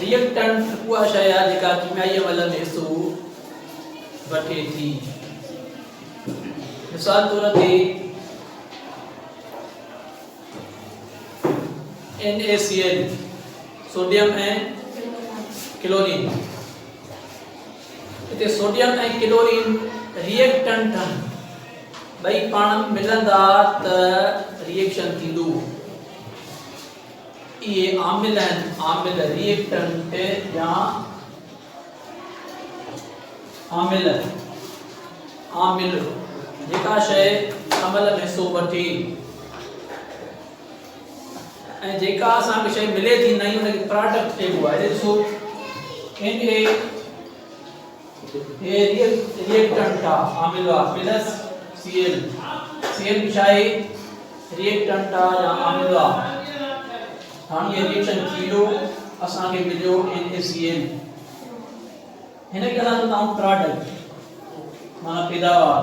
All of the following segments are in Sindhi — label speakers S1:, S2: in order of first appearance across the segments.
S1: Reactant اها شيء آهي جيڪا ڪيميائي عمل ۾ حصو وٺي ٿي. مثال طور تي NaCl سوڊيم ۽ ڪلورين هتي سوڊيم ۽ ڪلورين ريئيڪٽنٽ ٺهن ٻئي پاڻ ملندا ته ريئيڪشن ٿيندو اهي عامل آهن، عامل Reactant يا عامل، عامل، جيڪا شيء عمل ۾ حصو وٺي ۽ جيڪا اسان کي شيء ملي ٿي نئين ان کي پراڊڪٽ چئبو آهي ڏسو ان کي هي ري ايڪٽنٽ آ عامل آ plus C L C L بشاهي ري ايڪٽنٽ آ يا عامل آ هاڻي هي ريئيڪشن ٿيو اسان کي مليو ان اي سي ايل هن کي اسان چوندا آهيون پراڊڪٽ مانا پيداوار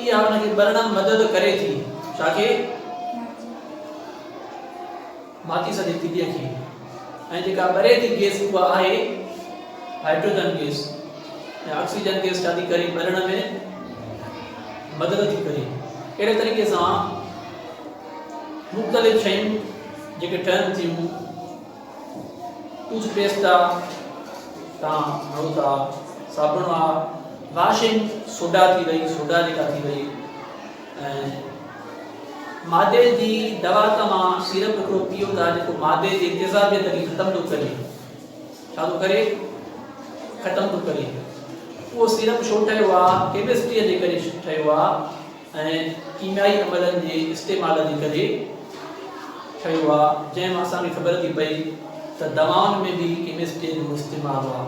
S1: اها ان کي ٻرڻ ۾ مدد ڪري ٿي. ڇا کي؟ ماچيس جي تيليء کي. ۽ جيڪا ٻري ٿي گيس اها آهي هائڊروجن گيس ۽ آڪسيجن گيس ڇا ٿي ڪري ٻرڻ ۾ مدد ٿي ڪري اهڙي طريقي سان مختلف شيون جيڪي ٺهن ٿيون ٽوٿ پيسٽ آ تان ھڙو تا صابڻ آ واشنگ سوڊا ٿي وئي سوڊا جيڪا ٿي وئي ۽ مادي جي دوا تمام سيرپ ھڪڙو پيو تا جيڪو مادي جي تيزابيت کي ختم ٿو ڪري ڇا ٿو ڪري ختم ٿو ڪري اهو سيرپ ڇو ٺهيو آ ڪيمسٽري جي ڪري ٺهيو آ ۽ ڪيميائي عملن جي استعمال جي ڪري ٺهيو آ جنهن مان اسان کي خبر ٿي پئي ته دوائن ۾ به ڪيمسٽري جو استعمال آ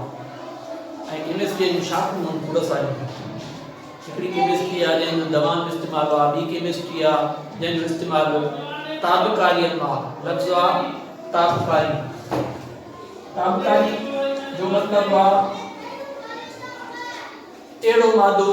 S1: ۽ ڪيمسٽري جون شاخون هن ڪورس آهن هڪڙي ڪيمسٽري آ جنهن جو دوائن ۾ استعمال آ ٻي ڪيمسٽري آ جنهن جو استعمال تابڪاري ۾ آ لفظ آ تابڪاري تابڪاري جو مطلب آ اهڙو مادو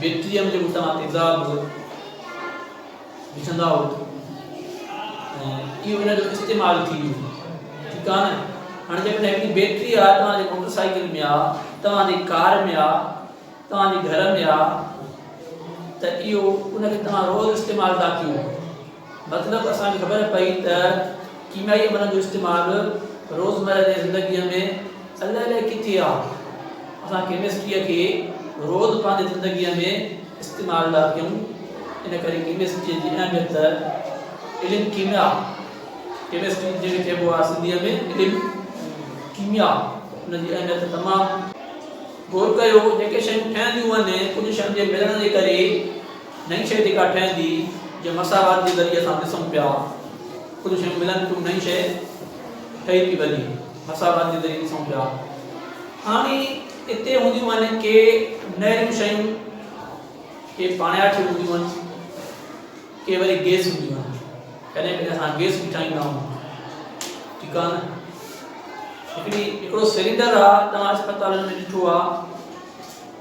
S1: بي ٽي ايم جي اتان تيزاب به وجهندا هئا ۽ اهو ان جو استعمال ٿي ويو ٺيڪ آ نه هاڻي جيڪڏهن هڪڙي بيٽري آ توهان جي موٽر سائيڪل ۾ آ توهان جي ڪار ۾ آ توهان جي گهر ۾ آ ته اهو ان کي توهان روز استعمال ٿا ڪيو مطلب اسان کي خبر پئي ته ڪيميائي عملن جو استعمال روزمره جي زندگيء ۾ الائي الائي ڪٿي آ. اسان ڪيمسٽريء کي روز پنهنجي زندگيء ۾ استعمال ٿا ڪيون. ان ڪري ڪيمسٽريء جي اهميت علم ڪيميا ڪيمسٽري جنهن کي چئبو آ سنڌيء ۾ علم ڪيميا ان جي اهميت تمام غور ڪيو جيڪي شيون ٺهنديون آهن ڪجهه شين جي ملڻ جي ڪري نئين شيء جيڪا ٺهندي، جنهن مساوات جي ذريعي اسان ڏسون پيا، ڪجهه شيون ملن ٿيون، نئين شيء ٺهي پي وڃي، مساوات جي ذريعي ڏسون پيا. هاڻي اتي هونديون آهن ڪي نهريون شيون، ڪي پاڻياٺيون هونديون آهن، ڪي وري گيس هونديون آهن. ڪڏهن ڪڏهن اسان گيس به ٺاهيندا آهيون. ٺيڪ آهي نه؟ هڪڙي هڪڙو سلينڊر آ، توهان اسپتالن ۾ ڏٺو آ،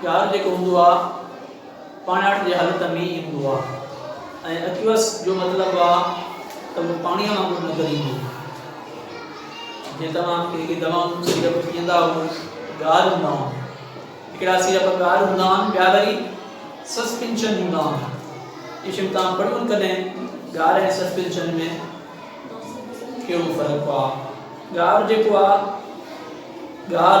S1: پيار جيڪو هوندو آ پاڻياٺ جي حالت ۾ ئي هوندو آ ۽ اڪيوس جو مطلب آ ته اهو پاڻيء وانگر نظر ايندو. جي توهان ڪي ڪي دوائون سيرپ پيئندا آهو ته ڳار هوندا آهن. هڪڙا سيرپ ڳار هوندا آهن ٻيا وري سسپينشن هوندا آهن. اهي شيون توهان پڙهيون ڪڏهن ڳار ۽ سسپينشن ۾ ڪهڙو فرق آ. ڳار جيڪو آ ڳار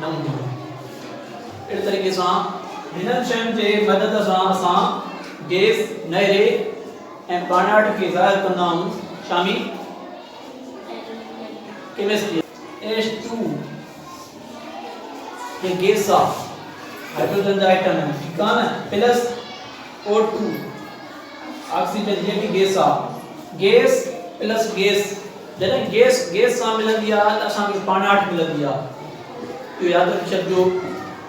S1: نه هونديون آهن. اهڙي طريقي سان هنن شين جي مدد سان اسان گيس، نيري ۽ ٻانهاٽ کي ظاهر ڪندا آهيون، شامي ڪيمسٽري. ايڇ ٽو هڪ گيس آ، هائڊروجن جا ائٽم آهن، ٺيڪ آ نه، پلس او ٽو، آڪسيجن هي به گيس آ، گيس پلس گيس. جڏهن گيس گيس سان ملندي آهي ته اسان کي پاڻاٺ ملندي آهي. اهو ياد رکي ڇڏجو.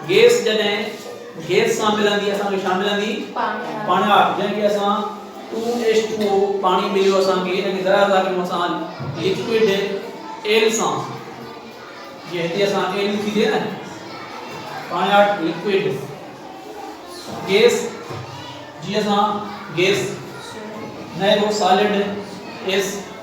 S1: گيس جڏهن گيس سان ملندي اسان کي ڇا ملندي؟ پاڻاٺ جنهن کي اسان ٽو ايچ ٽو او پاڻي مليو اسان کي ان کي ذرا ذرا ڪيون اسان لڪوڊ ايل سان جي هتي اسان ايل ٿي ٿئي نه پاڻاٺ لڪوڊ گيس جي اسان گيس نه هو سالڊ ايس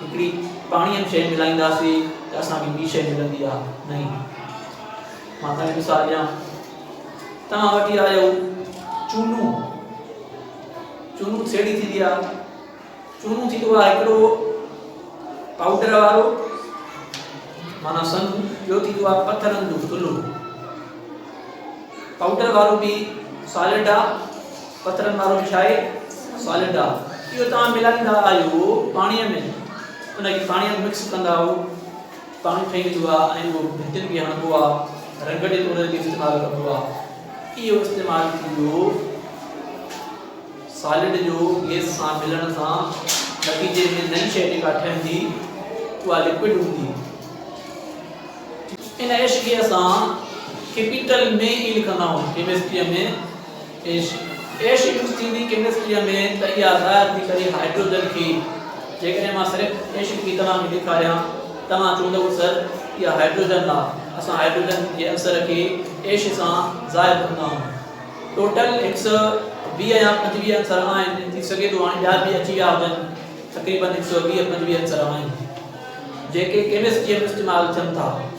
S1: هڪڙي پاڻي ۾ شيء ملائينداسي ته اسان کي ٻي شيء ملندي يا نهين. مان توهان کي مثال ڏيان. توهان وٺي آيو چونو. چونو سيڙي ٿيندي آ. چونو ٿيندو آ هڪڙو پاؤڊر وارو مانا سنگ ٻيو ٿيندو آ پٿرن جو ٿلهو. پاؤڊر وارو به سالڊ آ پٿرن وارو به ڇاهي سالڊ آ اهو توهان ملائيندا آهيو پاڻي ۾ ان کي پاڻي ۾ مڪس ڪندا آهيو پاڻي ٺهي ويندو آ ۽ اهو ڀتين کي هڻبو آ رنگ جي طور تي استعمال ڪبو آ اهو استعمال ٿيندو سالڊ جو گيس سان ملڻ سان نتيجي ۾ نئي شيء جيڪا ٺهندي اها لڪوڊ هوندي ان عشقيء سان ڪيپيٽل ۾ ئي لکندا آهيون ڪيمسٽري ۾ ايش يوز ٿيندي ڪيمسٽريء ۾ ته اها ظاهر ٿي پئي هائڊروجن کي جيڪڏهن مان صرف ايش ٿي توهان کي ڏيکاريان توهان چوندئو سر اها هائڊروجن لا اسان هائڊروجن جي عنصر کي ايش سان ظاهر ڪندا آهيون ٽوٽل هڪ سئو ويهه يا پنجويهه عنصر آهن ٿي سگهي ٿو هاڻي ٻيا به اچي ويا هجن تقريبن هڪ سئو ويهه پنجويهه عنصر آهن جيڪي ڪيمسٽريء ۾ استعمال ٿين ٿا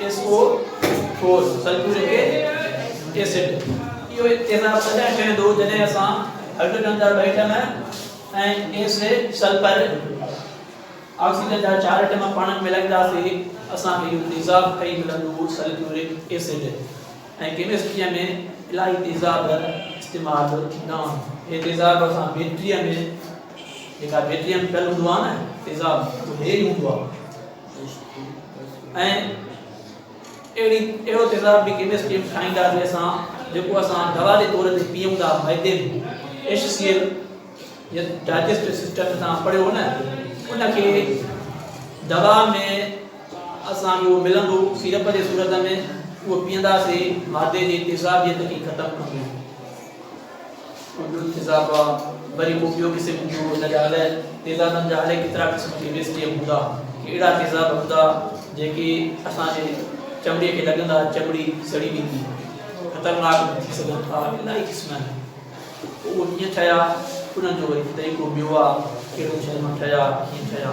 S1: S O four, sulphuric acid, اهو تيزاب تڏهن ٺهندو جڏهن اسان هئڊروجن جا ٻه atom ۽ S A sulphur oxygen جا چار ايٽم پاڻ ۾ ملائينداسين اسان کي اهو تيزاب ٺهي ملندو سلفيورڪ ايسڊ ۽ ڪيمسٽري ۾ الاهي تيزاب استعمال ٿيندا آهن هي تيزاب اسان بيٽري ۾ جيڪا بيٽري ۾ پيل هوندو آهي نه تيزاب اهو هي ئي هوندو آهي ۽ اهڙي اهڙو تيزاب به ڪيمسٽري ۾ ٺاهيندا جنهن سان جيڪو اسان دوا جي طور تي پيئون ٿا معدي ۾ ايش سي ايل يا ڊائجسٽو سسٽم تان پڙهيو نه ان کي دوا ۾ اسان جو ملندو سيرپ جي صورت ۾ اهو پيئنداسي معدي جي تيزاب جي تڪي ختم ڪندو اردن تيزابا وري ڪو ٻيو قسم جو ان جا الائي تيزابن جا الائي ڪيترا قسم جي بيسٽيم هوندا ڪهڙا تيزاب هوندا جيڪي اسان جي چمڙي کي لڳندا چمڙي سڙي ويندي خطرناڪ ٿي سگهن ٿا الائي قسم آهن اهو ڪيئن ٺهيا انهن جو وري طريقو ٻيو آهي ڪهڙو شهر مان ٺهيا ڪيئن ٺهيا